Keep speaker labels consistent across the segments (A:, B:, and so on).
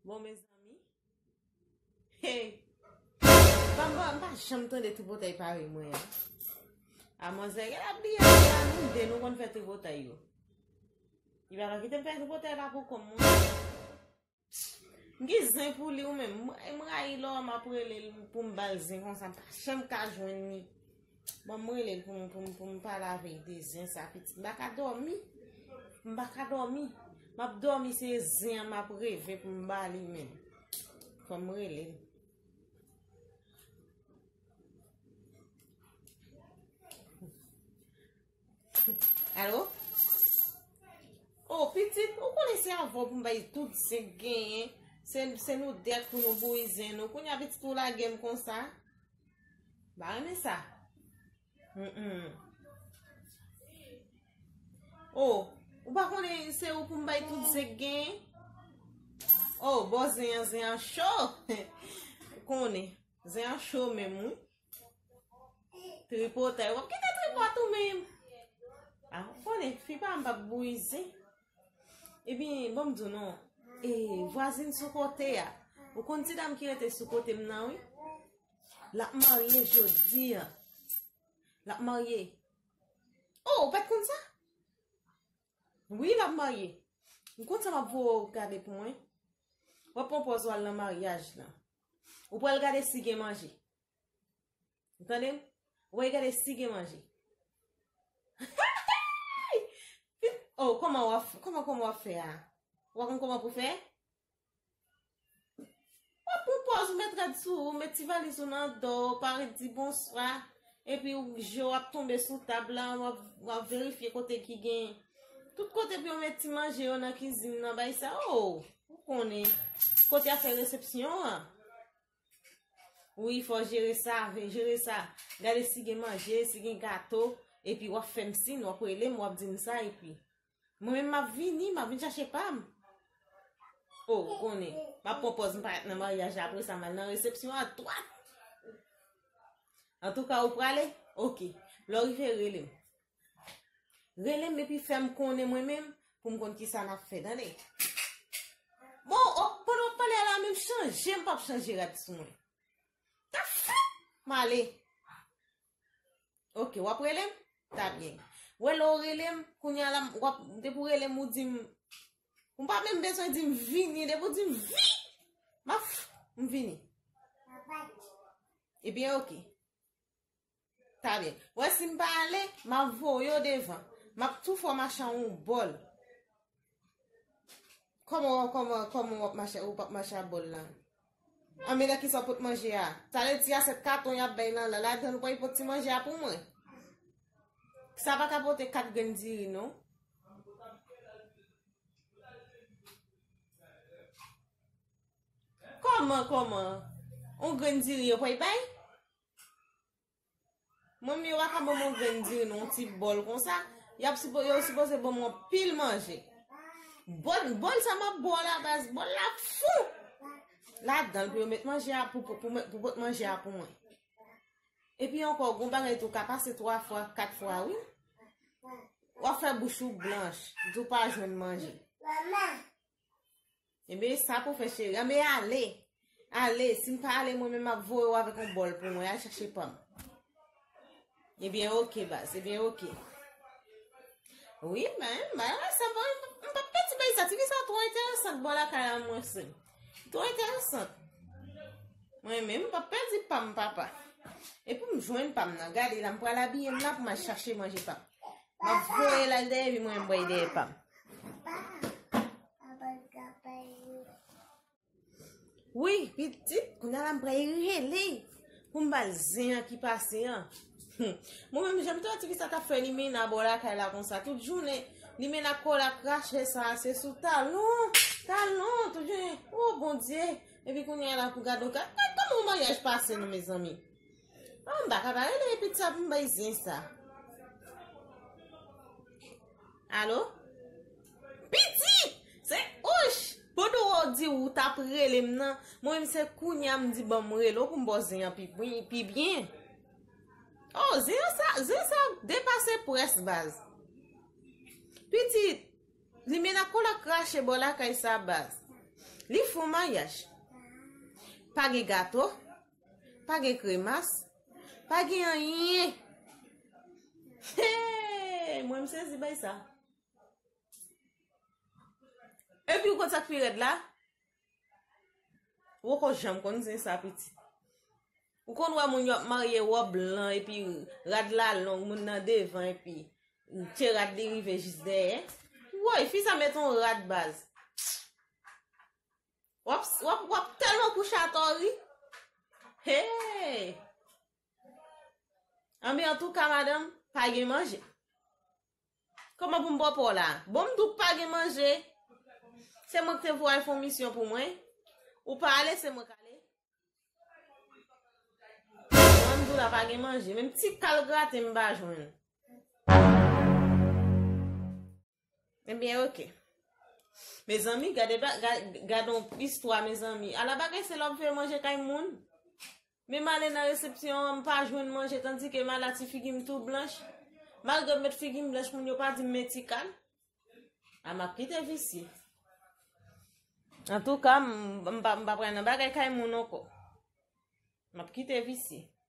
A: Bon mezanmi Hey Papa mpa janm tande tripotay pare mwen an A manzè gen la biye mwen an nou de nou konn fè tripotay yo Li pa nan kitem fè tripotay pa pou konm mwen M gen zen pou li ou men m rayi lò m ap rele l pou m bal zen konsa m pa janm ka jwenn li bon m rele l pou m pou m pou m pale avèl de zen sa pitit m baka dòmi m baka dòmi m ap dòmi se zen an m ap reve pou m bali men fò m rele l Alo? Oh, pitit, ou konen se avon pou mba yi tout se genyen. Se nou dek pou nou bou yi zen nou. Koun ya pitit ou la genm kon sa. Ba reme sa. Oh, ou pa konen se ou pou mba yi tout se genyen. Oh, bo zen an, zen an chou. Konen, zen an chou men mou. Tripotay. Wap kite tripot ou menm. A, ah, konen, fi pa m pa bouize. E bin, bon m di nou, e, vwazin sou kote a. Ou kon ti dam ki rete sou kote m nan, wi. La marye jodi a. La marye. Oh, ou pet kon sa? Oui, la marye. M kon sa m ap pou ou gade pou mwen. Wap pon poz wal nan maryaj nan. Ou pral gade si gen manje. Ou tande? Ou pral gade si gen manje. Oh, koman wap, koman koman wap fè a? Wap kon koman pou fè? Wap pou pòz ou met rad sou, ou met ti valiz ou nan do, ou pare di bonswa. Epi ou je w ap tonbe sou tab la, w ap w ap verifye kote ki gen. Tout kote pou yo met ti manje yo nan kizin nan bay sa o. Ou konnen. Kote y ap fè resepsyon an. Wi fò w jere sa, fè jere sa. Gade si gen manje, si gen gato. Epi w ap fè m sin, w ap rele m, w ap di m sa epi. Mwen menm map vini, map vin chache pam. Oh, ou konnen, map pran pòz m pa nan maryaj la apre sa mal nan resepsyon a twat. An tou ka ou prale? Ok. Lò rive rele m. Rele m epi fè m konnen mwen menm pou m konn ki sa nap fè tande. Bon, o, oh, pandan wap pale ala menm chanje m pap chanje rad sou mwen. Tap fèt! Male. Ok wap relem ta byen. Wè lè ou relem kounya la wap depi ou relem ou dim ou pa menm bezwen dim vini depi ou dim vini ma f m vini. Ebyen ok ta byen. Wè si m pa ale ma voye ou devan. Map tou fè w mache an yon bòl. Koman wap koman koman wap mache ou pap mache a bol la. A mena ki sa pot manje a. Sa le ti a set katon yap bay nan la la dan ou pa pot ti manje a pou mwen. Sa pa kapote kat gen diri non. Koman koman. On gen diri yo pa y bay. Mwen menm yo pa ka banm yon grenn diri nan yon ti bòl konsa, yap sipo yo sipoze banm yon pil manje. Bòl bòl sa map bo a la baz, bòl la fou ladanl pou yo met manje a pou pou pou pot manje a pou mwen. Epi ankò gon bagay tou ka pase 3 fwa, 4 fwa wi. Wap fè bouch ou blanch, di ou pa jwenn manje. Enben eh sa pou fè cheri. Anbe ah, ale. Ale, si m pa ale mwen men m ap voye ou avèk yon bòl pou mwen. Al chache pa m. Ebyen eh ok baz, ebyen eh ok. Wi men, mwen wè sa bon. M pa pè ti bay sa, ti bay sa twò enteresant bò la kay la mwen se. Twò enteresant. Mwen men m pa pè di pa m papa. E pou m jwenn pa m nan. Gade la m pral abiye m la pou m al chache manje pa m. M ap voye la l dèyè vi mwen m voye dèyè pa m. Wi pitit, kounye a la m pral rele pou m ba l zen an ki pase an. Hmm. Mwen menm jèm tò ti ki sa ta fè li men nan bò la kay la kon sa tout jounen. Li men nan kò la krache sa se sou talon. Talon tout jounen. Oh bon Dieu. Epi kounye a la pou gado ka. Mwen kòm mwen yaj pase nou mezanmi. An m baka pa rele epit sa pou m bay zen sa. Alo? Piti! Se ouch! Pandan wou di wou tap rele m nan, mwen m se kounya m di banm rele w pou m ba w zen an pi byen. O, zen an sa, zen sa depase pwès baz. Piti, li men a kola krache bò lakay sa baz. Li fon mayaj. Pa gen gato. Pa gen kremas? Pa gen anyen? Hey! Mwen m sezi bay sa. Epi ou konn sa k pi rèd la? Ou poko janm konn zen sa pitit. Ou konn wè moun yo ap marye wòb blan epi rad la long, moun nan devan epi pye rad li rive jis dèyè. Woy, fi sa met on rad baz. Wap wap wap telman kou chat or ri. Hey! Anben antouka madanm, pa gen manje. Koman pou m bo po la? Bon m tou pa gen manje. Se mwen k te voye fon misyon pou mwen. Ou pa ale se mwen k ale. Mwen tou la pa gen manje. Menm ti kal graten m pa jwenn. Ebyen ok. Mezanmi gade ba gade yon istwa mezanmi. Ala bagay se lè wap fè manje kay moun. Menm ale nan resepsyon an m pa jwenn manje tandi ke m ala ti figi m tou blanch. Malgre m met figi m blanch moun yo pa di m men ti kal. A map kite visye. Antouka m pa pral nan bagay kay moun anko. Map kite visye.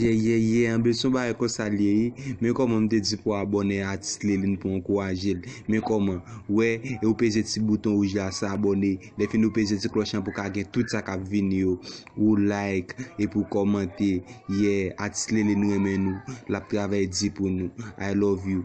B: Yeyeye anbl son bagay konsa l ye wi men kòman m te di pou abòne a atis Liline pou ankouraje l men kòman ou wè e ou peze ti bouton wouj la sa abòne lè fini ou peze ti klòch lan pou ka gen tout sa k ap vini yo ou like epi ou kòmante yeah atis Liline renmen nou l ap travay di pou nou I love you.